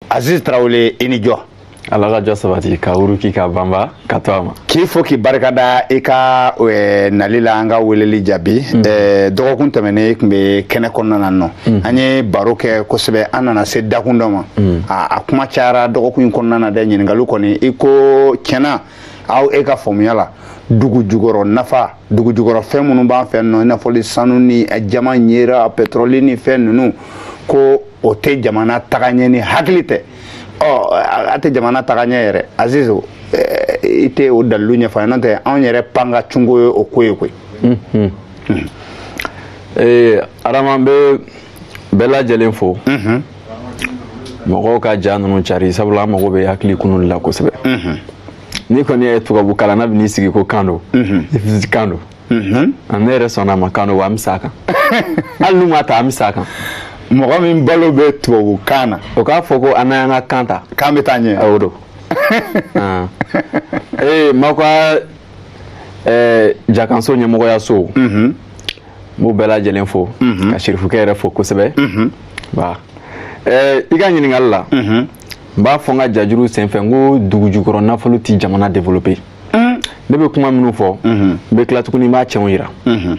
aziz tarawele i ni jɔ ala ka jɔ sabati ka wuruki ka banba ka to a ma k'i fo k'i barikada i ka eh, nali la an ka weleli jaabi mm. eh, dɔgɔkun tɛmɛnen i tun bɛ kɛnɛ kɔnɔna na nɔ mm. an ye baro kɛ kosɛbɛ an nana se dakun dɔ ma mm. a kuma cayara dɔgɔkun in kɔnɔna na dɛ ɲininkaliw kɔni i ko tiɲɛna aw e ka faamuya la dugu jukɔrɔ nafa dugu jukɔrɔ fɛn minnu b'an fɛ nɔ i n'a fɔ sanu ni jaman ɲera pɛtɔrɔli ni fɛn ninnu ko o tɛ jamana taga ɲɛ ni hakili tɛ ɔ a tɛ jamana taga ɲɛ yɛrɛ azizu i tɛ o dalilu ɲɛfɔ an ye n'o tɛ anw yɛrɛ pan ka cunko ye o ko ye koyi adama n bɛ bɛɛ lajɛlen fo mɔgɔw ka ja ninnu cari sabula an mago bɛ hakili kunun la kosɛbɛ n'i kɔni ye tubabu kalan na bɛ n'i sigi ko kan don kan don ne yɛrɛ sɔnna a ma kan don wa an bɛ s'a kan hali n'u ma ta an bɛ s'a kan mɔgɔ min balo bɛ tubabu kan na o k'a fɔ ko an n'an ka kan ta k'an bɛ taa ɲɛ o don ee m'aw ka jakanso ɲɛmɔgɔyaso n b'u bɛɛ lajɛlen fo ka sirifukɛ yɛrɛ fo kosɛbɛ i ka ɲininkali la n b'a fɔ n ka jajuru senfɛ n ko dugujukɔrɔ nafolo tɛ jamana développer mm. ne bɛ kuma minnu fɔ mm-hmm. n bɛ tila tuguni n b'a cɛnw yira mm-hmm.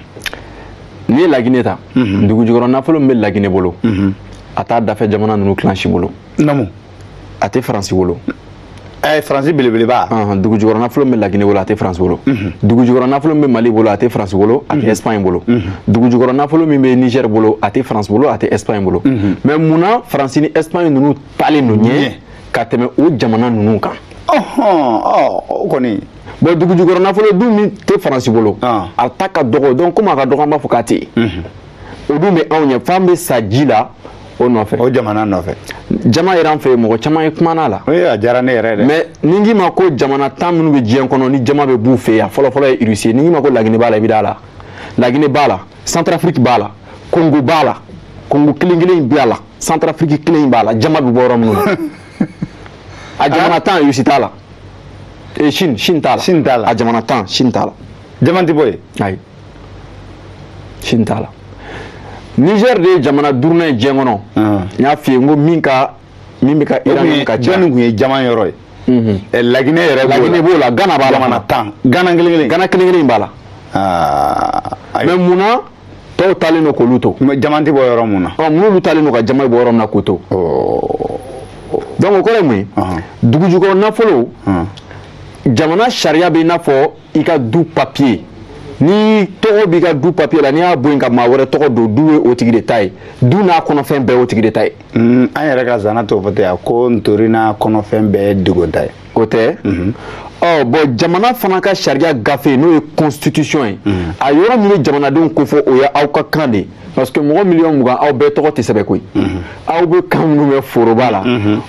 n'i ye lagine ta mm-hmm. dugu jukɔrɔ nafolo min bɛ lagine bolo a t'a dafɛ jamana ninnu kelen si bolo namu a tɛ faransi bolo ɛɛ eh, faransi belebeleba dugu jukɔrɔ nafolo min bɛ lagine bolo a tɛ faransi bolo dugu jukɔrɔ nafolo min bɛ mali bolo a tɛ faransi bolo a tɛ espagne bolo dugu jukɔrɔ nafolo min bɛ niger bolo a tɛ faransi bolo a tɛ espagne bolo mais mun na faransi ni espagne ninnu taalen don ɲɛ ka tɛmɛ o jamana ninnu kan o kɔni bon dugujukɔrɔ nafolo dun min tɛ faransi bolo ah. a ta ka dɔgɔ donc komi a ka dɔgɔ an b'a fɔ k'a tɛ yen mhm. o dun bɛ anw ɲɛ f'an bɛ sa ji la o nɔfɛ o jamana nɔfɛ jaman yɛrɛ an fɛ yen mɔgɔ caman ye kumana la a diyara ne yɛrɛ dɛ mais ni n k'i ma ko jamana tan minnu bɛ diɲɛ kɔnɔ ni jaman bɛ b'u fɛ yan fɔlɔfɔlɔ ye irisi ye ni n k'i ma ko lagine b'a la i bɛ d'a la lagine b'a la santarafiriki b'a la kongo b'a la kongo kelen kelen in bɛ a la centrafrique kelen in b'a la jaman bɛ bɔ yɔrɔ minnu na a jamana tan yusi t'a la ee sini sini t'a la sini t'a la a jamana tan sini t'a la jaman tɛ bɔ yen ayi sini t'a la niger de ye jamana duurunan ye diɲɛ kɔnɔ n y'a f'i ye n ko min ka min bɛ ka iran ka ca jɔnni tun ye jaman yɔrɔ ye Mhm. Eh, laginɛ yɛrɛ laginɛ b'o la gana b'a la jamana tan gana kelen kelen gana kelen kelen b'a la ah, mais mun na tɔw taalen don k'olu to mɛ jama tɛ bɔ yɔrɔ mun na ɔ minnu taalen don ka jama bɔ yɔrɔ min na k'u to donc o kɔrɔ ye mun ye dugujukɔrɔ nafolo jamana sariya bɛ i n'a fɔ i ka du papiye n'i tɔgɔ b'i ka du papiye la n'i y'a bɔ yen ka maa wɛrɛ tɔgɔ don du ye o tigi de ta ye du n'a kɔnɔfɛn bɛɛ ye o tigi de ta ye an yɛrɛ ka zana t'o fɔ ten a ko ntori n'a kɔnɔfɛn bɛɛ ye dogo ta ye o tɛ mhm. ɔ bɔn jamana fana ka sariya gafe n'o ye constitution ye mhm. a yɔrɔ min bɛ jamanadenw kofɔ o ye aw ka kan de ye parce que mɔgɔ miliyɔn mugan aw bɛɛ tɔgɔ tɛ sɛbɛn koyi mhm. aw bɛ kan minnu mɛn foroba la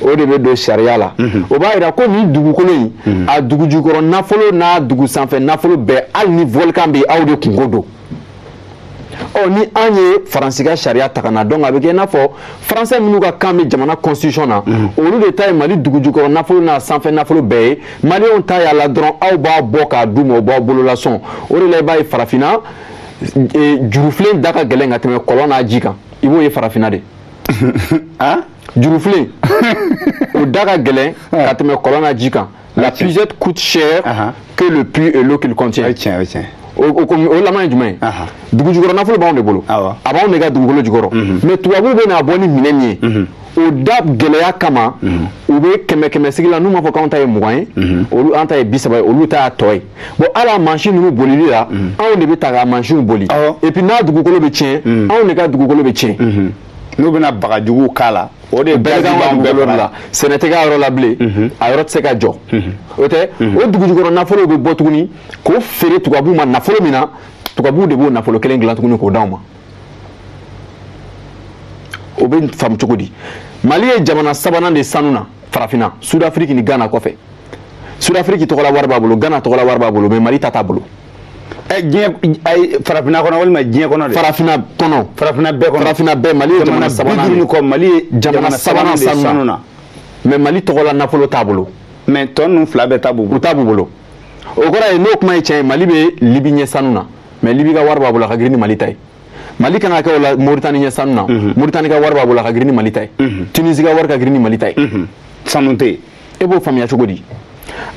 o de bɛ don sariya la o b'a jira ko nin dugukolo in a dugujukɔrɔ nafolo n'a dugu sanfɛ nafolo bɛɛ hali ni volcan bɛ yen aw de kunko don ɔ ni an ye faransi ka sariya ta ka na donc a bɛ kɛ i n'a fɔ faransɛ minnu ka kan bɛ jamana constitution na mhm. olu de ta ye mali dugujukɔrɔ nafolo n'a sanfɛ nafolo bɛɛ ye maliyɛnw ta y'a la dɔrɔn aw b'a bɔ k'a d'u ma u b'aw bolola sɔn o de la i b'a ye farafinna e, jurufilen da ka gɛlɛn ka tɛmɛ kɔlɔn n'a ji kan i b'o ye farafinna de ah? jurufilen o da ka gɛlɛn ka tɛmɛ kɔlɔn n'a ji kan La puisette coûte cher uh-huh. que le puits et l'eau qu'il contient. tiens, tiens. o laban ye jumɛn ye dugu jukɔrɔ nafolo b'anw de bolo a b'anw de ka dugukolo jukɔrɔ mhm. mɛ tubabuw bɛ n'a bɔ ni minɛn min ye mhm. o da gɛlɛya kama mhm. u bɛ kɛmɛ kɛmɛ sigi la n'u m'a fɔ k'anw ta ye mugan ye olu an ta ye bi saba ye olu ta y'a tɔ ye bɔn hali a mansin ninnu bolili la anw de bɛ taa k'a mansinw boli epi n'a dugukolo bɛ tiɲɛ anw de ka dugukolo bɛ tiɲɛ n'u bɛna bagajuguw k'a la o de bɛɛ bɛɛ la sɛnɛ tɛ k'a yɔrɔ la bilen mhm. a yɔrɔ tɛ se ka jɔ mhm. o tɛ mhm. o dugujukɔrɔ nafolo bɛ bɔ tuguni k'o feere tubabuw ma nafolo min na tubabuw de b'o nafolo kelen dilan tuguni k'o d'anw ma o bɛ faamu cogo di mali ye jamana sabanan de sanu na farafinna sudafiriki ni gana kɔfɛ sudafiriki tɔgɔla wari b'a bolo gana tɔgɔla wari b'a bolo mɛ mali ta t'a bolo ɛ diɲɛ ayi farafinna kɔnɔ walima diɲɛ kɔnɔ de. farafinna kɔnɔ. farafinna bɛɛ kɔnɔ. farafinna bɛɛ mali ye jamana sabanan de. jamana bi duuru kɔ mali ye jamana sabanan de sanu na. mɛ mali tɔgɔla nafolo t'a bolo. mɛ tɔ ninnu fila bɛɛ ta b'u bolo. u ta b'u bolo. o kɔrɔ ye n'o kuma ye tiɲɛ ye mali bɛ libi ɲɛ sanu na mɛ libi ka wari b'a bolo a ka girin ni mali ta ye. mali kan ka kɛ o la moritani ɲɛ sanu na. moritani ka wari b'a bolo a ka girin ni mali ta ye. tunisi ka wari ka girin ni mali ta ye. sanu tɛ yen. e b'o faamuya cogo di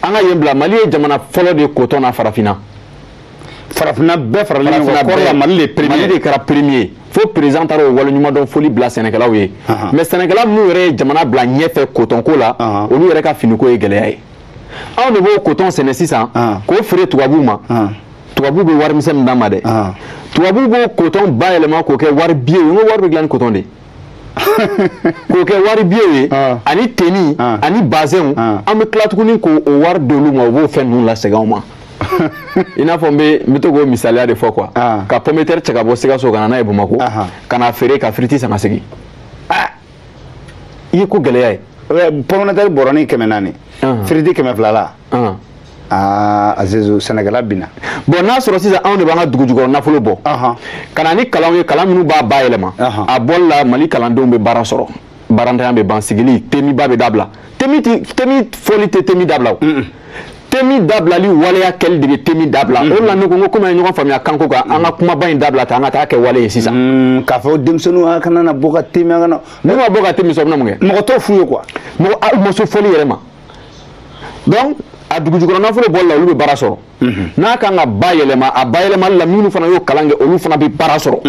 an ka yen bila mali ye jamana fɔlɔ de ye kotɔn na farafinna farafinna bɛɛ faralen ɲɔgɔn kan kɔɔri la mali de premier mali de kɛra premier fo président taara o waleɲumandɔn foli bila sɛnɛkɛlaw ye mais sɛnɛkɛla minnu yɛrɛ ye jamana bila ɲɛfɛ kotɔnko la olu yɛrɛ ka finiko ye gɛlɛya ye anw de b'o kotɔn sɛnɛ sisan k'o feere tubabuw ma tubabuw bɛ warimisɛn min d'an ma dɛ tubabuw b'o kotɔn bayɛlɛma k'o kɛ wari biye ye n ko wari bɛ dilan ni kotɔn de ye k'o kɛ wari biyew ye ah. ani teni ah. ani bazɛnw ah. an bɛ tila tuguni k'o wari d'olu ma u b'o fɛn ninnu lasegin anw ma i n'a fɔ n bɛ n bɛ to k'o misaliya de fɔ quoi ka pomme de terre cɛ ka bɔ sikaso ka na n'a ye bamakɔ ka na feere ka firiti san ka segin i ye ko gɛlɛya ye pomme de terre bɔrɔnin kɛmɛ naani firiti kɛmɛ fila la aa ah, azizu sɛnɛkɛla bina bɔnɛ sɔrɔ sisan anw de b'an ka dugujukɔrɔ nafolo bɔ ka na ni kalanw ye kalan minnu b'a bayɛlɛma a bɔli la mali kalandenw bɛ baara sɔrɔ baarantanya bɛ ban sigili teminba bɛ dabila temin fɔli tɛ temin dabila o temin dabilali waleya kɛli de bɛ temin dabila o de la ne ko n ko komi an ye ɲɔgɔn faamuya kanko kan an ka kumaba in dabila ta an ka t'a kɛ wale ye sisan mm, k'a fɔ denmisɛnninw a kana na bɔ ka te min an kana n'u ma bɔ ka te min sɔrɔ u bɛna mun kɛ mɔgɔ t'o f'u ye quoi mɔgɔ u ma se fɔli yɛrɛ ma donc a dugujukɔrɔ nafolo bɔli la olu bɛ baara sɔrɔ n'a kan ka bayɛlɛma a bayɛlɛmali la minnu fana y'o kalan kɛ olu fana bɛ baara sɔrɔ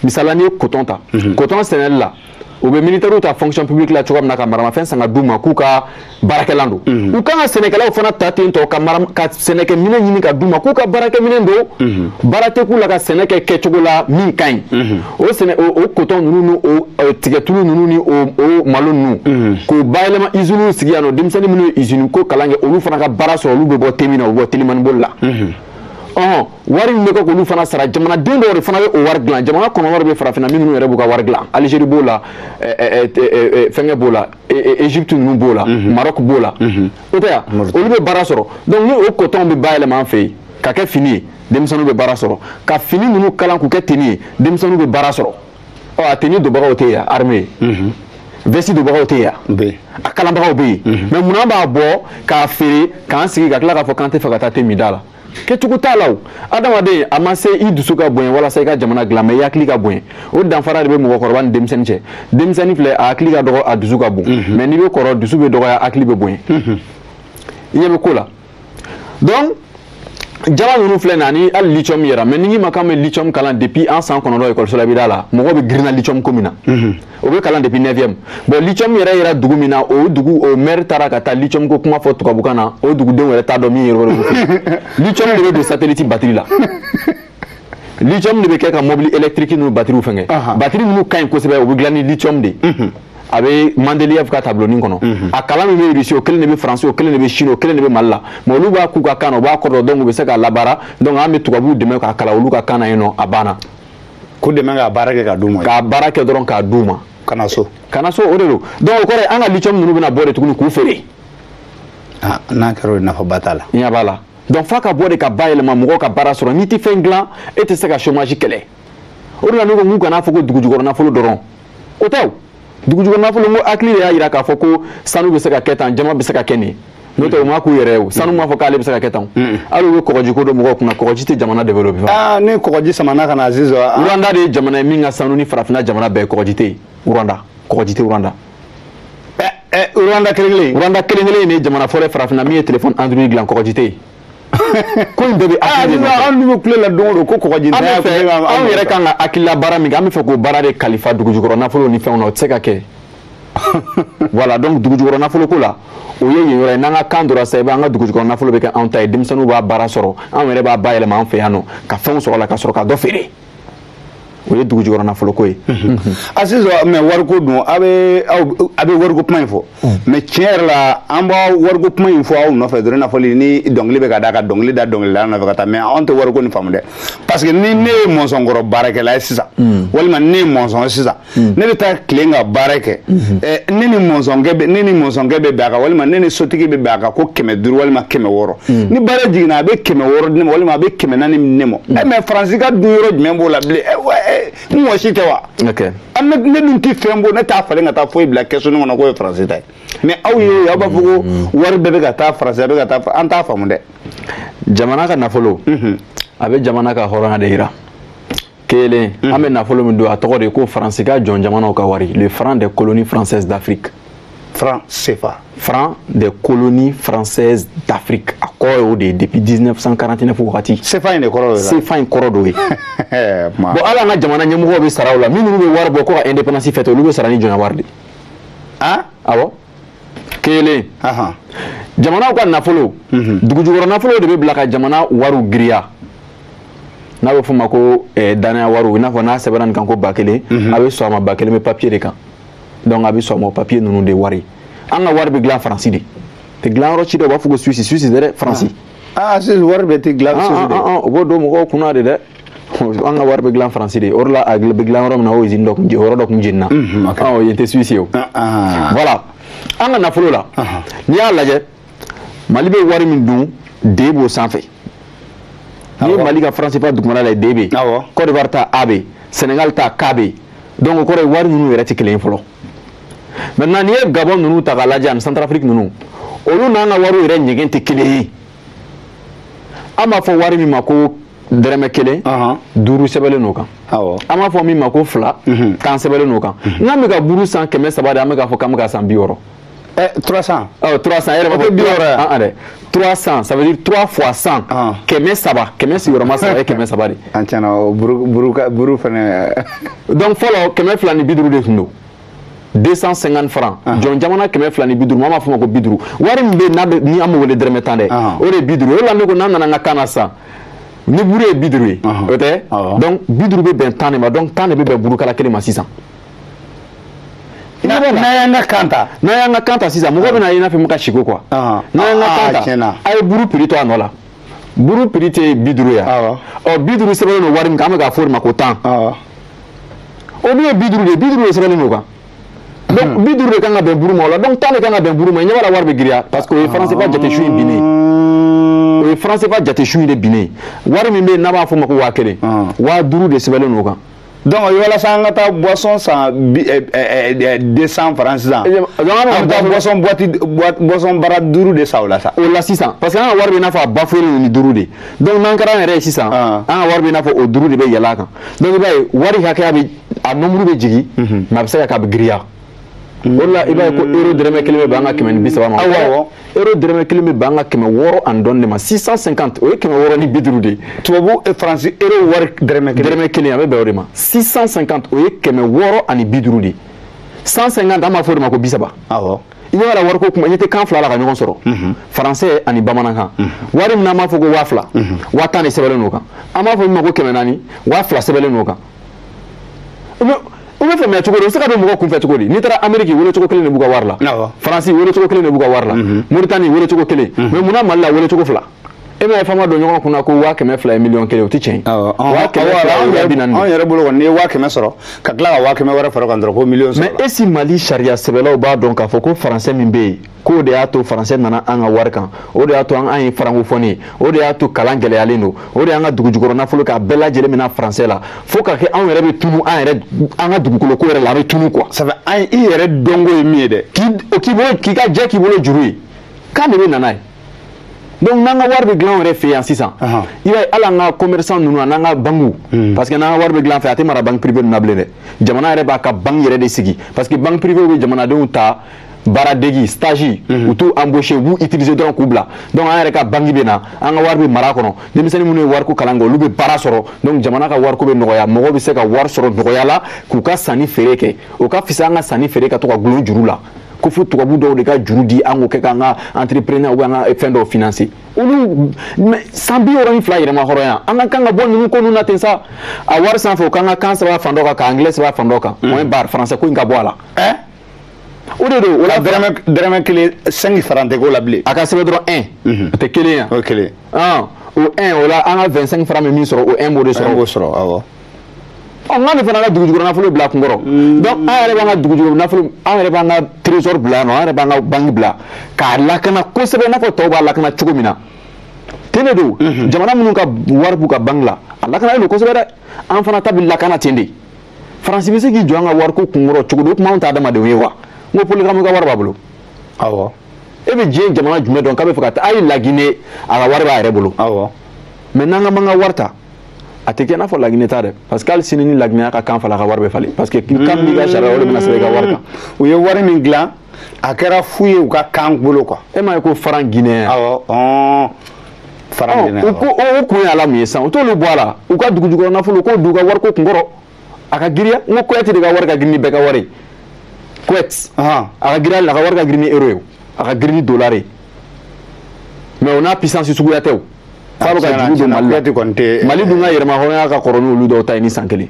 misali la n'i ye coton ta coton sɛnɛli la u bɛ militaires ta fonction publique la cogoya min na ka maramafɛn san ka d'u ma k'u ka baarakɛlan don u kan ka sɛnɛkɛlaw fana ta ten tɔ ka sɛnɛkɛminɛn ɲini ka d'u ma k'u ka baarakɛminɛn don baara tɛ k'u la ka sɛnɛ kɛ kɛcogo la min ka ɲi o sɛnɛ o kotɔn ninnu ni o e, tigɛtulu ninnu ni o malo ninnu mhm. k'o bayɛlɛma iziniw sigi yan nɔ denmisɛnnin minnu ye izini ko kalan kɛ olu fana ka baara sɔrɔ olu bɛ bɔ temin na u bɛ bɔ telimaniboli la mhm. ɔhɔn wari min bɛ kɛ k'olu fana sara jamanaden dɔw de fana bɛ o wari dilan jamana kɔnɔ wari bɛ farafinna minnu yɛrɛ b'u ka wari dilan alizeri b'o la fɛnkɛ b'o la égypte ninnu b'o la mhm. maroc b'o la o tɛ yan olu bɛ baara sɔrɔ donc ni o kotɔnw bɛ bayɛlɛma an fɛ yen ka kɛ fini ye denmisɛnninw bɛ baara sɔrɔ ka fini ninnu kalan k'u kɛ teni ye denmisɛnninw bɛ baara sɔrɔ ɔ a teni donbagaw tɛ yan armée mhm. veste donbagaw tɛ yan a kalanbagaw bɛ yen mhm. mais munna an b'a bɔ k'a feere k'an sigi ka tila k'a fɔ k'an t'a fɛ ka taa te min da la kɛcogo t'a la o adamaden a ma se i dusu ka bonya walasa i ka jamana dilan mais i hakili ka bonya o danfara de bɛ mɔgɔkɔrɔba ni denmisɛnnin cɛ denmisɛnnin filɛ a hakili ka dɔgɔ a dusu ka bon mhm. mais n'i bɛ kɔrɔ dusu bɛ dɔgɔya hakili bɛ bonya i ɲɛ bɛ ko la donc jama ninnu filɛ nin ani hali lithium yɛrɛ mais ni n k'i ma k'an bɛ lithium kalan depuis an san kɔnɔntɔn ekɔliso la i bɛ d'a la mɔgɔw bɛ girinna lithium ko min na o bɛ kalan depuis neuvième bon lithium yɛrɛ yɛrɛ dugu min na o dugu o maire taara ka taa lithium ko kuma fɔ tubabukan na o dugudenw yɛrɛ t'a dɔn min ye yɔrɔ lithium de bɛ don satellite batiri la lithium de bɛ kɛ ka mobili électrique ninnu batterie fɛnkɛ batterie minnu ka ɲi kosɛbɛ o bɛ dilan ni lithium de ye a bɛ Mandeliyev ka tabulonin kɔnɔ a kalan min bɛ Russie o kelen de bɛ France o kelen de bɛ Chine o kelen de bɛ Mali la mais olu b'a k'u ka kan na u b'a kɔrɔ dɔn donc u bɛ se k'a labaara donc an bɛ tubabuw dɛmɛ k'a kalan olu ka kan na yen nɔ a banna k'u dɛmɛ k'a baara kɛ k'a d'u ma k'a baara kɛ dɔrɔn k'a d'u ma ka na so ka na so o de don donc o kɔrɔ an ka lithium ninnu bɛna bɔ de tuguni k'u feere n'a kɛra o ye nafaba t'a la ɲɛ b'a la donc f'a ka bɔ de ka bayɛlɛma mɔgɔw ka baara sɔrɔ n'i tɛ fɛn dilan e tɛ se ka chômage kɛlɛ o de la ne ko an kana fɔ ko dugujukɔrɔ nafolo dɔrɔn o tɛ o dugujukɔrɔ nafolo n ko hakili de y'a jira k'a fɔ ko sanu bɛ se ka kɛ tan jaman bɛ se ka kɛ nin n'o tɛ u ma k'u yɛrɛ ye o sanu m'a fɔ k'ale bɛ se ka kɛ tan hali u ye kɔgɔji ko don mɔgɔw kunna kɔgɔji tɛ jamana développé aa ni kɔgɔji samana ka na Aziz wa Rwanda de ye jamana ye min ka sanu ni farafinna jamana bɛɛ kɔgɔji tɛ yen Rwanda kɔgɔji tɛ Rwanda Rwanda kelen kelen Rwanda kelen kelen ye jamana fɔlɔ farafinna min ye téléphone Android dilan kɔgɔji tɛ yen ko in bɛɛ bɛ hakili de nɔfɛ an dun bɛ kule la don o don ko kɔgɔji an bɛ fɛ anw yɛrɛ kan ka hakilila baara min kɛ an bɛ fɛ k'o baara de kalifa dugujukɔrɔ nafolo ni fɛnw na o tɛ se ka kɛ voilà donc dugujukɔrɔ nafolo ko la o ye yen yɔrɔ ye n'an ka kan dɔrɔn sa i b'an ka dugujukɔrɔ nafolo bɛ kɛ anw ta ye denmisɛnninw b'a baara sɔrɔ anw yɛrɛ b'a bayɛlɛma an fɛ yan nɔ ka fɛnw sɔrɔ a la ka sɔrɔ ka dɔ feere o ye dugujukɔrɔ nafolo ko ye a sisan mais wariko dun a bɛ a bɛ wariko kuma in fɔ mais tiɲɛ yɛrɛ la an b'a wariko kuma in fɔ aw nɔfɛ dɔrɔn i n'a fɔli ni dɔnkili bɛ ka da ka dɔnkili da dɔnkilidala nɔfɛ ka taa mais anw tɛ wariko nin faamu dɛ parce que ni ne ye mɔnsɔn kɔrɔ baarakɛla ye sisan walima ne ye mɔnsɔn ye sisan Hmm. ne bɛ taa tilen ka baara kɛ hmm. eh, ne ni mɔnsɔnkɛ bɛ ne ni mɔnsɔnkɛ bɛ bɛn a kan walima ne ni sotigi bɛ bɛn a kan ko kɛmɛ duuru walima kɛmɛ wɔɔrɔ hmm. ni baara jiginna a bɛ kɛmɛ wɔɔrɔ di ne ma walima a bɛ kɛmɛ naani di ne ma ɛ eh, mais faransi ka dun yɔrɔ jumɛn b'o la bilen eh, n mɔgɔ si tɛ wa ah, ne dun tɛ fɛn bɔ ne t'a falen ka taa foyi bila kɛsu nin kɔnɔ k'o ye faransi ta ye mais aw ye aw b'a fɔ ko wari bɛɛ bɛ ka taa faransi a bɛ ka taa an t'a faamu dɛ jamana ka nafolo a bɛ jamana ka hɔrɔnya de jira kelen mhm. an bɛ nafolo min don a tɔgɔ de ye ko faransi ka jɔn jamanaw ka wari le franc des colonies françaises d'afrique franc cfa franc des colonies françaises d'afrique a kɔrɔ y'o de ye depuis 1949 wagati cfa in de kɔrɔ don cfa in kɔrɔ d'o ye bon hali an ka jamana ɲɛmɔgɔw bɛ sara o la minnu bɛ wari bɔ ko ka indépendance fête olu bɛ sara ni jɔnya wari de ye awɔ kelen jamanaw ka nafolo mhm. dugujukɔrɔ nafolo de bɛ bila ka jamana wariw giriya n'a bɛ f'o ma ko eh, danaya wariw i n'a fɔ n'a sɛbɛnna nin kan ko ba kelen mhm. a bɛ sɔn a ma ba kelen bɛ papiye de kan donc a bɛ sɔn a ma o papiye ninnu de wari an ka wari bɛ dilan faransi de tɛ dilan yɔrɔ si dɛ u b'a fɔ ko suwisi suwisi tɛ dɛ faransi. aa ah, ah, suwisi wari bɛ tɛ dilan suwisi ah, dɛ. u b'o don mɔgɔw kunna de dɛ. an ka wari bɛ dilan faransi de o de la a bɛ dilan yɔrɔ min na o izini dɔ tun yɔrɔ dɔ tun jenina ɔ yen tɛ suisse ye o voilà an ka nafolo la n'i y'a lajɛ mali bɛ wari min dun d b'o sanfɛ n'i ye mali ka franc cfa dugumana la d bɛ yen côte d'ivoire ta a bɛ yen sénégal ta k bɛ yen donc o kɔrɔ ye wari ninnu yɛrɛ tɛ kelen ye fɔlɔ maintenant n'i ye gabon ninnu ta k'a lajɛ ani centrafrique ninnu olu n'an ka wariw yɛrɛ ɲɛgɛn tɛ kelen ye an b'a fɔ wari min ma ko dɛrɛmɛ kelen duuru sɛbɛnlen n'o kan an b'a fɔ min ma ko fila mhm. tan sɛbɛnlen n'o kan mhm. n'an bɛ ka buru san kɛmɛ saba de an bɛ k'a fɔ k'an bɛ k'a san bi wɔɔrɔ eh, trois cent ɔ trois cent e yɛrɛ b'a fɔ bi wɔɔrɔ yan ah, dɛ trois cent ça veut dire trois fois cent ah. kɛmɛ saba kɛmɛ sigiyɔrɔma saba ye kɛmɛ saba de an tiɲɛna buru buru buru fɛnɛ donc fɔlɔ kɛmɛ fila ni bi duuru de tun don 250 francs jɔn jamana kɛmɛ fila ni bi duuru mɔgɔ b'a fɔ o ma ko bi duuru wari min bɛ n'a bɛ ni an bɛ wele dɛrɛmɛ tan dɛ o de ye bi duuru o de la ne ko n'an nana an ka kan na sisan ni buru ye bi duuru ye o tɛ donc bi duuru bɛ bɛn tan de ma donc tan de bɛ bɛn burukala kelen ma sisan. n'an y'an ka kan ta n'an y'an ka kan ta sisan mɔgɔ bɛn'a ye i n'a fɔ n bɛ ka siko quoi n'an y'an ka kan ta a ye buru prix to a nɔ la. buru prix tɛ bi duuru ye wa bi duuru sɛbɛnnen don wari min kan an bɛ k'a fɔ o ma ko tan o dun ye bi duuru de ye bi duuru de sɛbɛnnen don a kan donc hmm. bi duuru de kan ka bɛn buru ma o la donc tan de kan ka bɛn buru ma i ɲɛ b'a la wari bɛ giriya parce que o ye franc CFA jate su in binnen o ye franc CFA jate su in de binnen wari min bɛ yen n'an b'a fɔ o ma ko waa kelen waa duuru de sɛbɛnnen don o kan donc walasa an ka taa boisson san deux cents francs sisan an bɛ taa boisson boîte boisson bara duuru de san o la sa o la sisan parce que an ka wari bɛ i n'a fɔ a bafoué len ni duuru de donc n'an kɛra an yɛrɛ ye sisan an ka wari bɛ i n'a fɔ o duuru de bɛ yɛlɛ a kan donc i b'a ye wari hakɛya bɛ a nombre bɛ jigin mais a bɛ se ka kɛ a bɛ giriya o la i b'a ye ko mm. euro dɛrɛmɛ kelen bɛ bɛn an ka kɛmɛ ni bi saba ma awɔ euro dɛrɛmɛ kelen bɛ bɛn an ka kɛmɛ wɔɔrɔ ani dɔɔni de ma six cent cinquante o ye kɛmɛ wɔɔrɔ ni bi duuru de ye tubabu eh, faransi euro wari dɛrɛmɛ kelen dɛrɛmɛ kelen a bɛ bɛn o de ma six cent cinquante o ye kɛmɛ wɔɔrɔ ani bi duuru de ye cent cinquante an b'a fɔ o de ma ko bi saba awɔ i b'a la wariko kuma i tɛ kan fila la ka ɲɔgɔn sɔrɔ mhm. faransɛ ani bamanankan mhm. wari min n'an b'a fɔ ko waa fila mhm. waa tan de sɛbɛnlen n'o kan an b'a fɔ min ma ko kɛmɛ naani waa fila sɛbɛnlen n'o kan o bɛ faamuya cogo di o bɛ se ka don mɔgɔ kunfɛ cogo di n'i taara ameriki welecogo kelen de b'u ka wari la faransi welecogo kelen de b'u ka wari la mhm. moritani welecogo kelen mhm. mais munna mali la welecogo fila e m'a ye fama don ɲɔgɔn kunna ko waa kɛmɛ fila ye miliyɔn kelen o tɛ tiɲɛ waa kɛmɛ fila ye waa bi naani anw yɛrɛ bolo kɔni n'i ye waa kɛmɛ sɔrɔ ka tila ka waa kɛmɛ wɛrɛ fara o kan dɔrɔn ko miliyɔn sɔrɔ mais est-ce mali sariya sɛbɛlaw b'a dɔn k'a fɔ ko faransɛ min bɛ yen k'o de y'a to faransɛ nana an ka wari kan o de y'a to an ye francophone ye o de y'a to kalan gɛlɛyalen don o de y'an ka dugujukɔrɔ nafolo k'a bɛɛ lajɛlen mina faransɛ la fo ka kɛ anw yɛrɛ bɛ tunu an yɛrɛ an ka dugukoloko yɛrɛ la an bɛ tunu quoi sabu an i yɛrɛ dɔnko ye min ye dɛ k'i bolo k'i ka jɛ k'i bolo juru ye kan de bɛ na n'a ye donc n'an ka wari bɛ dilan an yɛrɛ fɛ yan sisan i b'a ye hali an ka commerçant ninnu an'an ka bankiw hmm. parce que n'an ka wari bɛ dilan an fɛ a tɛ mara banque privée ninnu na bilen dɛ jamana yɛrɛ b'a ka banque yɛrɛ de sigi parce que banque privée bɛ jamanadenw ta baaradegi stage mhm. u t'u embaucher u b'u utiliser dɔrɔn k'u bila donc an yɛrɛ ka banki bɛ na an ka wari bɛ mara kɔnɔ denmisɛnnin minnu ye wariko kalan kɛ olu bɛ baara sɔrɔ donc jamana ka wariko bɛ nɔgɔya mɔgɔw bɛ se ka wari sɔrɔ nɔgɔya la k'u ka sanni feere kɛ o ka fisa an ka sanni feere ka to ka gulon juru la ko fo tubabu dɔw de ka juru di an k'o kɛ k'an ka entrepreneurw an ka fɛn dɔw financer olu san bi wɔɔrɔ ni fila yɛrɛmahɔrɔnya an ka kan ka bɔ ninnu ko ninnu na ten sa a wari sanfɛ o k'an ka kan sɛbɛn fan dɔ kan ka anglais sɛbɛn fan dɔ kan moyen b'a la français ko in ka bɔ a la o de don o la dɛrɛmɛ kelen 5 francs tɛ k'o la bilen a ka sɛbɛn dɔrɔn 1 mhm. a tɛ kelen ye o ye kelen ah, o 1 o la an ka 25 francs bɛ min sɔrɔ o 1 b'o de sɔrɔ b'o sɔrɔ awɔ ɔ n k'an fana ka dugujukɔrɔ nafolo bila kun kɔrɔ mm. donc an yɛrɛ b'an ka dugujukɔrɔ nafolo an yɛrɛ b'an ka trésor bila yan nɔ an yɛrɛ b'an ka banki bila k'a lakana kosɛbɛ i n'a fɔ tɔw b'a lakana cogo min na ten de don mhm. jamana minnu ka wari b'u ka banki la a lakanalen don kosɛbɛ dɛ an fana ta bɛ lakana ten de faransi bɛ se k'i jɔ an ka wariko kunkɔrɔ cogo di o tuma anw tɛ adamadenw ye wa n ko paul kagame ka wari b'a bolo awɔ e bɛ diɲɛ jamana jumɛn dɔn k'a bɛ fɛ ka taa a ye lagine a ka wari b'a yɛrɛ bolo awɔ mais n'an ka man ka wari ta a tɛ kɛ i n'a fɔ lagine ta dɛ parce que hali sini ni lagine y'a ka kan falen a ka wari bɛ falen parce que kan min b'i ka sariya o de bɛna sɛbɛn i ka wari kan u ye wari min dilan a kɛra fu ye u ka kan bolo quoi e m'a ye ko franc guinéen awɔ ɔn franc guinéen u ko o kun ye ala mun ye sisan u t'olu bɔ a la u ka dugujukɔrɔ nafolo k'o d'u ka wariko kun kɔrɔ a ka giriya n ko kuwɛti de ka wari ka girin ni bɛɛ ka wari ye kuwɛti a ka giriya la a ka wari ka girin ni euro ye a ka girin ni dollar ye mais o n'a puissance suguya tɛ o f'a bɛ ka juru don mali la mali dun ka yɛrɛmahɔrɔnya ka kɔrɔ n'olu dɔw ta ye ni san kelen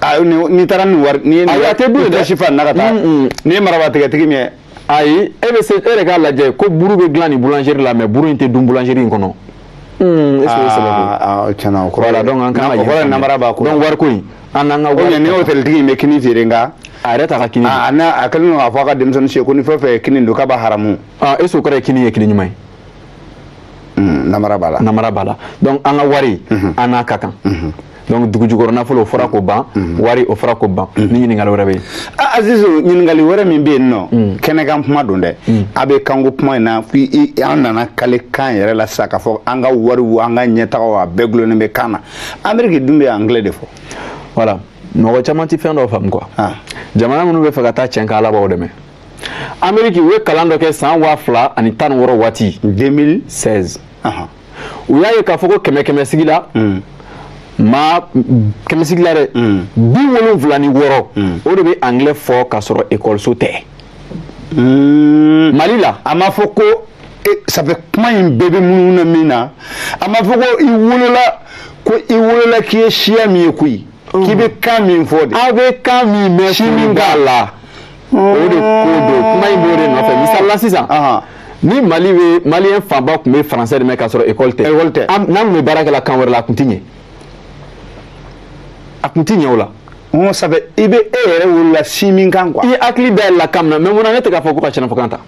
ah, n'i taara ni wari nin ye ayi a tɛ dun dɛ sefa na ka taa n'i ye maraba tigɛtigi min ye ayi e bɛ se e yɛrɛ k'a lajɛ ko buru bɛ dilan nin boulangerie la mais buru in tɛ dun boulangerie in kɔnɔ est-ce que o ye sababu ye ah, ah, tiɲɛna o kɔrɔ voilà donc an kan ka yɛlɛma namara b'a ko donc wariko in an n'an ka wari ni hôteltigi in bɛ kini feere nka a yɛrɛ t'a ka kini a n'a a kɛlen don k'a fɔ a ka denmisɛnnin si ye ko ni fɛn o fɛn ye kini dun k'a b'a haramu ah, est-ce que o kɔrɔ ye kini ye kini ɲuman ye hmm, namara b'a la namara b'a la donc an ka wari mhm. an n'a ka kan mhm. donc dugu jukɔrɔ nafolo o fɔra k'o ban mhm. wari o fɔra k'o ban mhm. ni ɲininkali wɛrɛ bɛ yen ah, azizu ɲininkali wɛrɛ min bɛ yen nɔ mhm. kɛnɛkan kuma don dɛ a bɛ kanko kuma in na an nana kale kan yɛrɛ la sisan k'a fɔ an ka wariw an ka ɲɛtagaw a bɛɛ gulonnen bɛ kan na ameriki dun bɛ anglais de fɔ voilà mɔgɔ caman tɛ fɛn dɔ faamu quoi ah. jamana minnu bɛ fɛ ka taa cɛn kɛ ala b'aw dɛmɛ ameriki u ye kalan dɔ kɛ san waa fila ani tan ni wɔɔrɔ waati 2016 u y'a ye k'a fɔ ko kɛmɛ kɛmɛ sigi la mm. maa kɛmɛ sigi la dɛ mm. bi wolonwula ni wɔɔrɔ mm. o de bɛ anglais fɔ k'a sɔrɔ ekɔliso tɛ mali la a ma fɔ ko e, ça fait kuma in bɛɛ bɛ munumunu na min na a ma fɔ ko i wolola ko i wolola k'i ye siya min ye koyi k'i bɛ kan min fɔ de aw bɛ kan min mɛn si min k'a la o de ko don kuma in b'o de nɔfɛ misali la sisan ni mali bɛ maliyɛn fanba tun bɛ français de mɛn k'a sɔrɔ école tɛ n'an tun bɛ baara kɛ la kan wɛrɛ la a tun tɛ ɲɛ a tun tɛ ɲɛ o la ça fait i bɛ e yɛrɛ wolola si min kan quoi i hakili dayɛlɛla kan min na mais mun na ne tɛ k'a fɔ ko ka sɛnɛfɔkan ta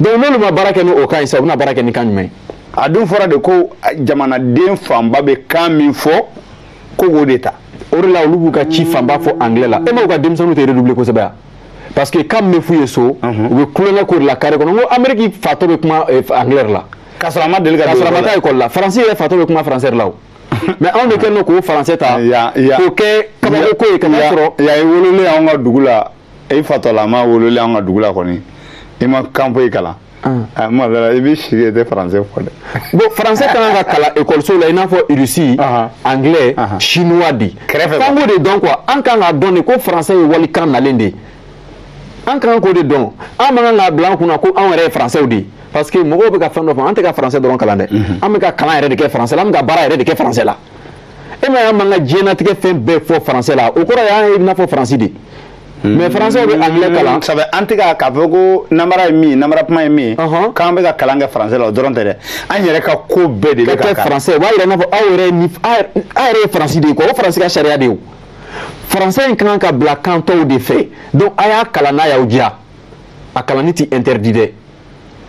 donc n'olu ma baara kɛ ni o kan ye sisan u bɛna baara kɛ ni kan jumɛn ye a dun fɔra de ko jamanaden fanba bɛ kan min fɔ ko k'o de ta o de la olu b'u ka ci fanba fɔ anglais la e m'aw ka denmisɛnninw tɛ redoubler kosɛbɛ yan parce que kan min bɛ f'u ye so u bɛ tulon k'o de la carré kɔnɔ n ko ameriki fatɔ bɛ kuma eh, anglais de la k'a sɔrɔ a ma deli ka don o la k'a sɔrɔ a ma taa école la faransi yɛrɛ fatɔ bɛ kuma français de la o mais anw de kɛlen don k'o français ta k'o kɛ kabako ko ye ka n'a sɔrɔ yan i wololen anw ka dugu la i fatɔlama wololen an ka dugu la kɔni i ma kan foyi kalan ah, ma dala i bɛ si i tɛ français fɔ dɛ bon français ka kan ka kalan ekɔliso la i n'a fɔ irisi anglais chinois de kɛrɛfɛ f'an k'o de dɔn quoi an kan k'a dɔn de ko français ye walikan nalen de ye an kan k'o de dɔn an man kan k'a bila an kun na ko anw yɛrɛ ye français de ye parce que mɔgɔw bɛ ka fɛn dɔ fɔ an tɛ ka français dɔrɔn kalan dɛ an bɛ ka kalan yɛrɛ de kɛ français la an bɛ ka baara yɛrɛ de kɛ français la e m'a y'an b'an ka diɲɛlatigɛ fɛn bɛɛ fɔ français la o kɔrɔ y'an ye i n'a fɔ faransi de mais français bɛ anglais kalan ça fait an tɛ k'a fɔ ko namara ye min ye namara kuma ye min ye k'an bɛ ka kalan kɛ français la o dɔrɔn tɛ dɛ an yɛrɛ ka ko bɛɛ de bɛ ka kɛ français o b'a yira i n'a fɔ aw yɛrɛ ni aw yɛrɛ ye faransi de ye quoi o faransi ka sariya de ye o français in ka kan ka bila kan tɔw de fɛ donc a y'a kalan n'a y'aw diya a kalanni tɛ interdit dɛ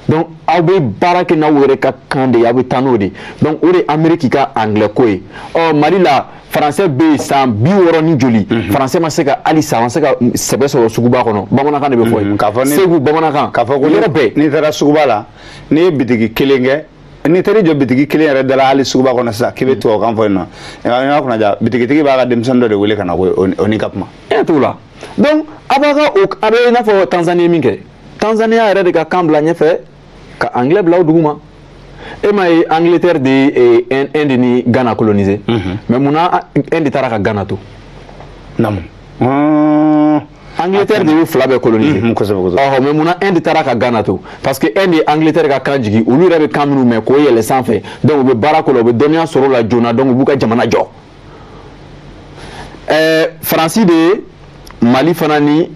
donc aw bɛ baara kɛ n'aw yɛrɛ ka kan de ye aw bɛ taa n'o de ye donc o de ye ameriki ka anglais ko ye ɔ mali la français bɛ yen san bi wɔɔrɔ ni joli mhm. français ma se ka halisa ma se ka sɛbɛ sɔrɔ suguba kɔnɔ bamanankan de bɛ fɔ yen mhm. segu bamanankan k'a fɔ ko yɔrɔ bɛɛ n'i taara suguba la n'i ye bitigi kelen kɛ n'i taara i jɔ bitigi kelen yɛrɛ da la hali suguba kɔnɔ sisan k'i bɛ mhm. tubabukan fɔ yen nɔ ɲɔgɔn kunna diya bitigitigi b'a ka denmisɛnnin dɔ de wele ka na ko o n'i ka kuma e t'o la donc aw b'a ka o a bɛ i n'a fɔ tanzanie min kɛ tanzanie y'a yɛrɛ de ka kan bila ɲɛfɛ ka anglais bila o dugu ma e m'a ye angleterre de ye eh, inde ni ghana coloniser mhm. mais munna inde taara ka ghana to namu ah. angleterre de y'u fila bɛɛ coloniser mhm, ɔhɔ mais munna inde taara ka ghana to parce que inde ye angleterre ka kan jigi olu yɛrɛ bɛ kan minnu mɛn k'o yɛlɛ sanfɛ donc u bɛ baara k'o la u bɛ dɔnniya sɔrɔ o la joona donc u b'u ka jamana jɔ ɛɛ faransi de ye mali fana ni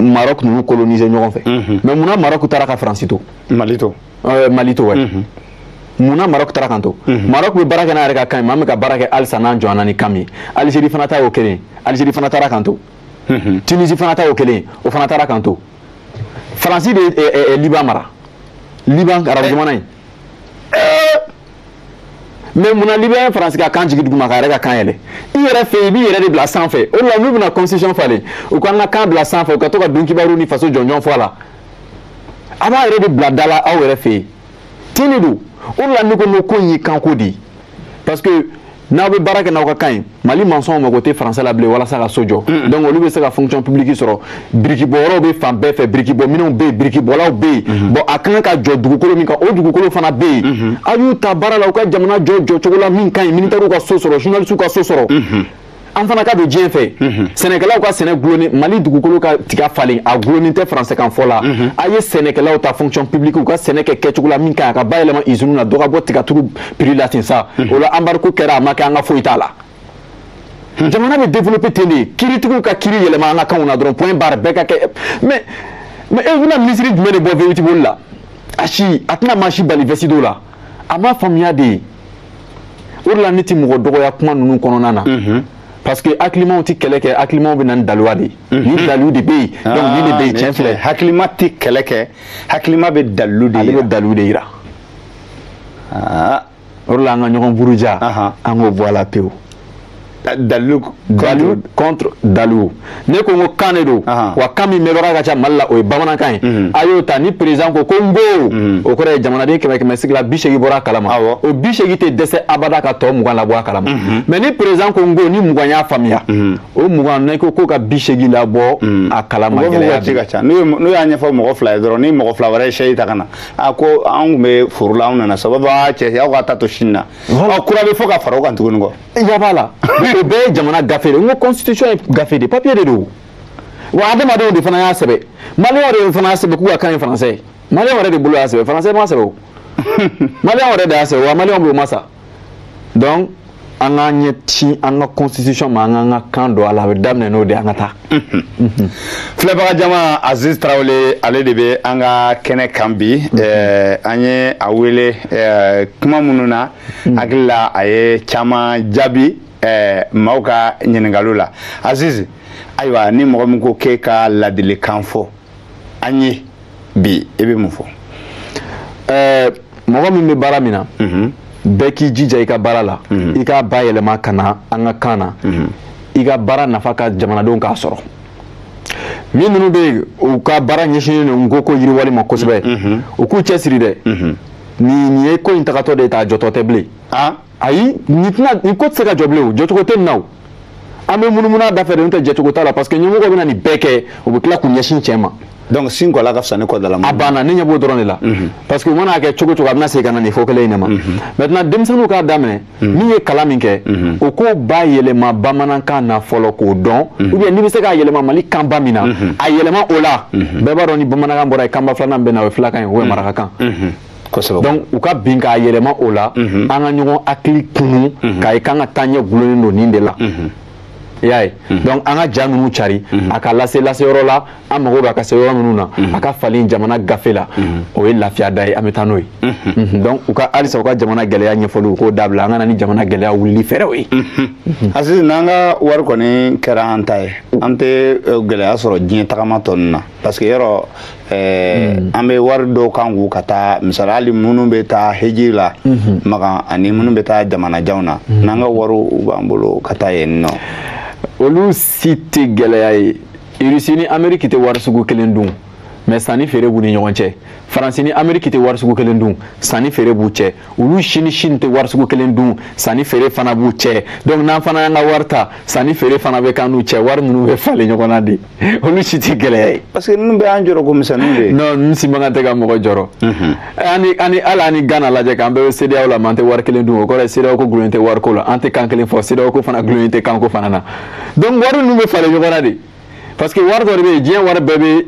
marɔk ninnu coloniser ɲɔgɔn fɛ mhm. mais munna marɔk taara ka faransi to mali to eh, mali to wɛ mhm. munna marɔk taara k'an to mhm. marɔk bɛ baara kɛ n'a yɛrɛ ka kan ye mali bɛ ka baara kɛ halisa n'an jɔnna ni kan min ye alizeri fana ta y'o kelen alizeri fana taara k'an to tunisi fana ta y'o kelen o fana taara k'an to faransi de ye eh, eh, liban mara liban arabu jamana in mais munna liban ye faransi ka kan jigin duguma k'a yɛrɛ ka kan yɛlɛ i yɛrɛ fɛ i b'i yɛrɛ de bila sanfɛ o de la n'u bɛna constitution falen u k'an ka kan bila sanfɛ u ka to ka dunkibaru ni faso jɔnjɔn fɔ a la a b'a yɛrɛ de bila da la aw yɛrɛ fɛ yen ten de don o de la ne ko n ko ko in ye kanko de ye parce que n'aw bɛ baara kɛ n'aw ka kan ye mali mansɔnw mago tɛ faransɛ la bilen walasa ka so jɔ donc olu bɛ se ka fonction publique sɔrɔ birikibɔyɔrɔw bɛ fan bɛɛ fɛ birikibɔminɛnw bɛ yen birikibɔlaw bɛ yen mhm. bon a ka kan ka jɔ dugukolo min kan o dugukolo fana bɛ yen mhm. a y'u ta baara la u ka jamana jɔ jɔcogo la min ka ɲi militɛriw ka so sɔrɔ journalisiw ka so sɔrɔ mhm. an fana ka don diɲɛ fɛ sɛnɛkɛlaw ka sɛnɛ gulonni mali dugukolo ka tiga falen a gulonni tɛ faransɛkan fɔ la a ye sɛnɛkɛlaw ta fonction publique u ka sɛnɛ kɛ kɛcogo la min ka ɲi a ka bayɛlɛma usine na dɔ ka bɔ tigaturu prix la ten sa o la embargo kɛra a ma kɛ an ka foyi t'a la jamana bɛ développer ten de kiritigiw ka kiri yɛlɛma an ka kanw na dɔrɔn point barre bɛɛ ka kɛ mais mais e bɛna minisiri jumɛn de bɔ vewiti boli la a si a tɛna maa si bali vɛsi don la a m'a faamuya de ye o de la ne tɛ mɔgɔ dɔgɔya kuma ninnu kɔnɔna na parce que hakilimaw tɛ kɛlɛ kɛ hakilimaw bɛ na ni daluya de ye ni dalilu de bɛ yen donc nin de bɛ yen tiɲɛ filɛ hakilima tɛ kɛlɛ kɛ hakilima bɛ dalilu de yira ale bɛ dalilu de yira ah. o de la an ka ɲɔgɔn buruja an k'o bɔ a la pewu dalilu dalilu contre dalilu ne ko n ko kan de don wa kan min mɛnbaga ka ca mali la o ye bamanankan ye mhm. a y'o ta ni perezidan ko ko n bo mhm. o kɔrɔ ye jamanaden kɛmɛ kɛmɛ sigi la bi seegin bɔra a kalama o bi seegin tɛ dɛsɛ abada ka tɔ mugan labɔ a kalama mhm. mais ni perezidan ko n ko ni mugan y'a faamuya o mugan ne ko ko ka bi seegin labɔ a kalama gɛlɛya n'u y'a ɲɛfɔ mɔgɔ fila ye dɔrɔn ni mɔgɔ fila wɛrɛ ye sɛsi ta ka na a ko an tun bɛ foro la an nana sababu aa cɛ aw ka taa to sini na ɔ kura bɛ fɔ ka fara o kan tuguni kɔ ɲɛ b'a la o bɛɛ ye jamana gafe de n ko constitution ye gafe de papier de don wa adamadenw de fana y'a sɛbɛn maliyɛnw de fana y'a sɛbɛn k'u ka kan ye faransɛ ye maliyɛnw yɛrɛ de bolo y'a sɛbɛn faransɛ m'a sɛbɛn o maliyɛnw yɛrɛ de y'a sɛbɛn wa maliyɛnw b'o ma sa donc an k'an ɲɛ ci an ka constitution ma an k'an ka kan don a la a bɛ daminɛ n'o de an ka taa filɛbaga jama aziz tarawele ale de bɛ an ka kɛnɛ kan bi eh, an ye a wele eh, kuma minnu na hakili la a ye caman jaabi eh, maaw ka ɲininkaliw la aziz ayiwa ni mɔgɔ min ko k'e ka ladilikan fɔ an ye bi e bɛ mun fɔ ɛɛ mɔgɔ min bɛ baara min na mhm. bɛɛ k'i jija i ka baara la mhm. i k'a bayɛlɛma ka na an ka kan na mhm. i ka baara nafa ka jamanadenw k'a sɔrɔ min ninnu bɛ yen u ka baara ɲɛsinnen don n ko ko yiriwali ma kosɛbɛ u k'u cɛsiri dɛ nin ye ko in tagatɔ de ye t'a jɔtɔ tɛ bilen ayi nin tɛna nin ko tɛ se ka jɔ bilen o jɔcogo tɛ nin na o an bɛ munumunu a da fɛ de n'o tɛ jɛcogo t'a la parce que ɲɛmɔgɔ bɛna nin bɛɛ kɛ u bɛ tila k'u ɲɛsin cɛ ma donc sin kɔla ka fisa ni kɔdala a banna ne ɲɛ b'o dɔrɔn de la mhm. parce que u mana kɛ cogo cogo a bɛna segin ka na nin fɔ kelen in de ma mhm. maintenant denmisɛnninw k'a daminɛ mhm. min ye kalan min kɛ o k'o bayɛlɛma bamanankan na fɔlɔ k'o dɔn ou bien n'i bɛ se k'a yɛlɛma mali kanba min na a yɛlɛma o la bɛɛ b'a dɔn ni bamanankan bɔra yen kanba filanan bɛ na o ye filakan ye o ye marakakan kosɛbɛ donc u ka bin k'a yɛlɛma o la mhm. an ka ɲɔgɔn hakili kunu mhm. k'a ye k'an ka taa ɲɛ gulonnen don nin de la mhm. i y'a ye donc an ka ja ninnu cari a ka lase lase yɔrɔ la an mago b'a ka se yɔrɔ minnu na a ka falen jamana gafe la o ye lafiya da ye an bɛ taa n'o ye donc u ka halisa u ka jamana gɛlɛya ɲɛfɔli u k'o dabila an ka na ni jamana gɛlɛya wulili fɛɛrɛw ye Aziz n'an ka wari kɔni kɛra an ta ye an tɛ eh, gɛlɛya sɔrɔ diɲɛ tagama tɔ ninnu na parce que yɔrɔ ɛɛ mm. an bɛ wari dɔw kan k'u ka taa misali hali minnu bɛ taa heji la mm-hmm. makan ani minnu bɛ taa jamanajanw na mm-hmm. n'an ka wariw u b'an bolo ka taa yen nɔ olu si tɛ gɛlɛya ye irisi ni ameriki tɛ wari sugu kelen dun mais sanni feere b'u ni ɲɔgɔn cɛ faransi ni ameriki tɛ wari sugu kelen dun sanni feere b'u cɛ olu si ni Chine tɛ wari sugu kelen dun sanni feere fana b'u cɛ donc n'an fana y'an ka wari ta sanni feere fana bɛ k'an n'u cɛ wari ninnu bɛ falen ɲɔgɔn na de olu si tɛ gɛlɛya ye. parce que ninnu bɛɛ y'an jɔrɔ ko misɛnninw de ye. non ninnu si man kan tɛ ka mɔgɔ jɔrɔ. Mhm. ani ani hali an ni Ghana lajɛ k'an bɛɛ bɛ CEDEAO la mais an tɛ wari kelen dun o kɔrɔ ye CEDEAO ko gulonnen tɛ wariko la an tɛ kan kelen fɔ CEDEAO ko fana gulonnen tɛ kanko fana na donc wari ninnu bɛ falen ɲɔgɔn na de parce que wari dɔ de bɛ yen diɲɛ wari bɛɛ bɛ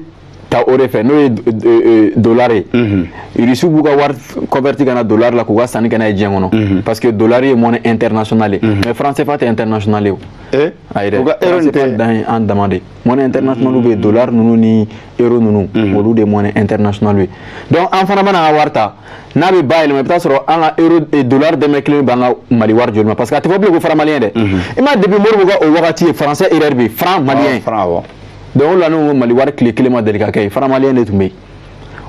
ta o de fɛ n'o ye euh, dollar ye mhm. irisiw b'u ka wari converti ka na dollar la k'u ka sanni kɛ n'a ye diɲɛ kɔnɔ mhm. parce que dollar ye monnaie internationale ye mhm. mais franc cfa tɛ internationale ye o eh? ayi dɛ franc cfa dan ye an dama de ye monnaie internationale bɛ yen dollar ninnu ni euro ninnu olu de ye monnaie internationale ye donc an fana mana an ka wari ta n'a bɛ bayɛlɛma i bɛ taa sɔrɔ an ka euro eh, dollar dɔrɔmɛ kelen b'an ka mali wari joli ma parce que a tɛ fɔ bilen ko franc malien dɛ i m'a depuis Modibo ka o wagati ye français erreur bɛ yen franc malien ah, donc olu la ne ko mali wari tile kelen ma deli ka kɛ yen franc malien de tun bɛ yen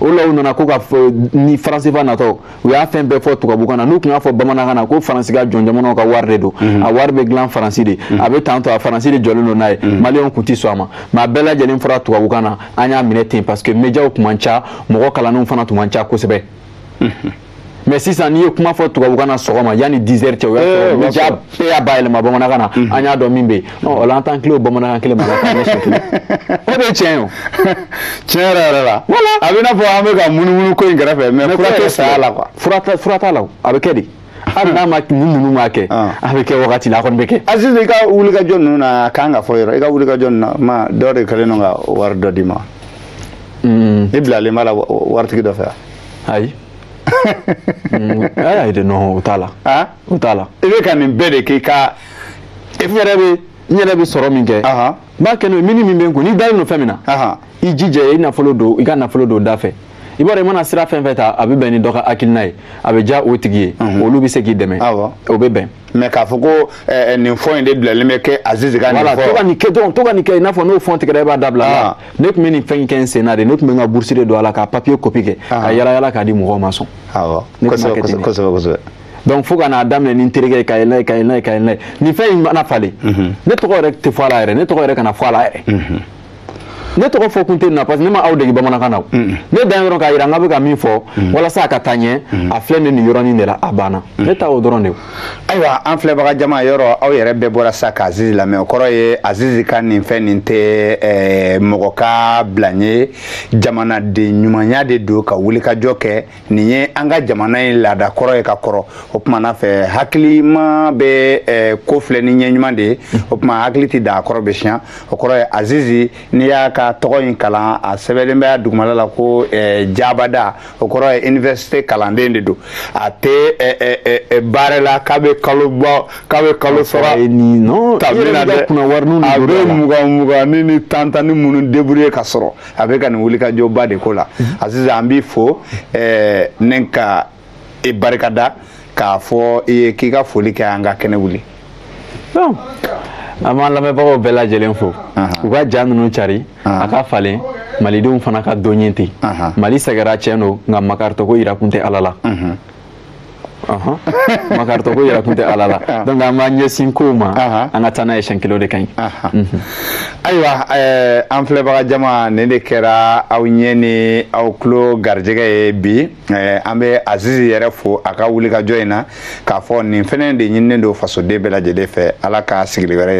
o la u nana ko ka ni franc CFA natɔ u y'a fɛn bɛɛ fɔ tubabukan na n'u tun y'a fɔ bamanankan na ko faransi ka jɔn jamanaw ka wari de don mhm. a wari bɛ dilan faransi de mhm. a bɛ tan to a faransi de jɔlen don n'a ye mhm. maliyɛnw tun tɛ sɔn a ma mais a bɛɛ lajɛlen fɔra tubabukan na an y'a minɛ ten parce que médiaw tun man ca mɔgɔ kalannenw fana tun man ca kosɛbɛ mais sisan n'i ye kuma fɔ tubabukan na sɔgɔma yanni 10 heures cɛ o y'a sɔrɔ média bɛɛ y'a bayɛlɛma bamanankan na an y'a dɔn min bɛ yen o la an t'an tilen o bamanankan kelen ma k'an ɲɛsin tugun o de ye tiɲɛ ye o tiɲɛ yɛrɛ yɛrɛ la a bɛ i n'a fɔ an bɛ ka munumunu ko in kɛrɛfɛ mais fura tɛ saya la quoi fura t'a la o a bɛ kɛ de hali n'a maa ninnu m'a kɛ a bɛ kɛ wagati la a kɔni bɛ kɛ azizi i ka wulikajɔ ninnu na a kan ka fɔ yɔrɔ i ka wulikajɔ ninnu na maa dɔ de kɛlen don ka wari dɔ d'i ma i bilalen b'a la waritigi dɔ fɛ ayi ayi de non o t'a la o t'a la i bɛ ka nin bɛɛ de k'i ka e yɛrɛ bɛ n yɛrɛ bɛ sɔrɔ min kɛ n b'a kɛ n'o ye mini min bɛ n kun n'i dalen don fɛn min na i jija i nafolo don i ka nafolo don da fɛ i b'a dɔn i mana sira fɛn fɛn ta a bɛ bɛn ni dɔ ka hakilina ye a bɛ diya o tigi ye mhm. olu bɛ se k'i dɛmɛ o bɛ bɛn mais k'a fɔ ko eh, eh, nin fɔ in de bilalen bɛ kɛ azizi ka nin fɔ to ka nin kɛ dɔrɔn to ka nin kɛ i n'a fɔ n'o fɔn tigɛra i b'a dabila ah. ne tun bɛ nin fɛn in kɛ n sen na de ne tun bɛ n ka burusi de don a la ka papiye kopi kɛ ah. ka yala yala k'a di mɔgɔw ma sɔn ne tun b'a kɛ ten kosɛbɛ kosɛbɛ donc fo ka n'a daminɛ ni n terikɛ ye ka yɛlɛ ye ka yɛlɛ ye ka yɛlɛ ye nin fɛn in mana falen mhm. ne tɔgɔ yɛrɛ tɛ fɔ a la yɛrɛ ne tɔgɔ yɛrɛ kana fɔ a la yɛrɛ mhm. ne tɔgɔ fɔ kun tɛ nin na parce que ne ma aw dege bamanankan na ne dan yɔrɔ k'a yira an kan bɛ ka min fɔ walasa a ka taa ɲɛ a filɛ ne niyɔrɔnin de la a banna ne ta o dɔrɔn de ye ayiwa an filɛbaga jama yɔrɔ aw yɛrɛ bɛɛ bɔra sa ka azizi lamɛn o kɔrɔ ye azizi ka nin fɛn nin tɛ eh, mɔgɔ ka bila ye jamanaden ɲumanya de don ka wulikajɔ kɛ nin ye an ka jamana in laada kɔrɔ ye ka kɔrɔ o tuma na fɛ hakilima bɛ eh, ko filɛ ni ɲɛ ɲuman de ye o tuma hakili tɛ da a kɔrɔ bɛ siɲɛ o kɔrɔ ye azizi n'i y'a ka tɔgɔ in kalan a sɛbɛnlen bɛ a dugumala la ko eh, jabada o kɔrɔ ye université kalanden de don a tɛ eh, baara la k'a bɛ kalo bɔ k'a bɛ kalo sara ta bi la dɛ a bɛ mugan mugannin ni tan tannin minnu débrouiller ka sɔrɔ a bɛ ka nin wulikajɔba de ko la azizi an b'i fo ɛɛ ne ka i barikada k'a fɔ i ye k'i ka foli kɛ an ka kɛnɛ wuli. an b'an lamɛnbagaw bɛɛ lajɛlen fo u ka ja ninnu cari a ka falen malidenw fana ka dɔ ye ten mali sɛgɛra cɛn don nka makaritɔko yirakun tɛ ala la makaritɔko yirakun tɛ ala la ah. donc an b'an ɲɛsin kow ma an ka taa n'a ye siɲɛ kelen o de ka ɲi mhm. ayiwa eh, an filɛbaga jama nin de kɛra aw ɲɛ ni aw tulo garijɛgɛ ye bi eh, an bɛ azizi yɛrɛ fo a ka wulikajɔ in na k'a fɔ nin fɛnɛ de ɲininen don fasoden bɛɛ lajɛlen fɛ ala ka sigili wɛrɛ yira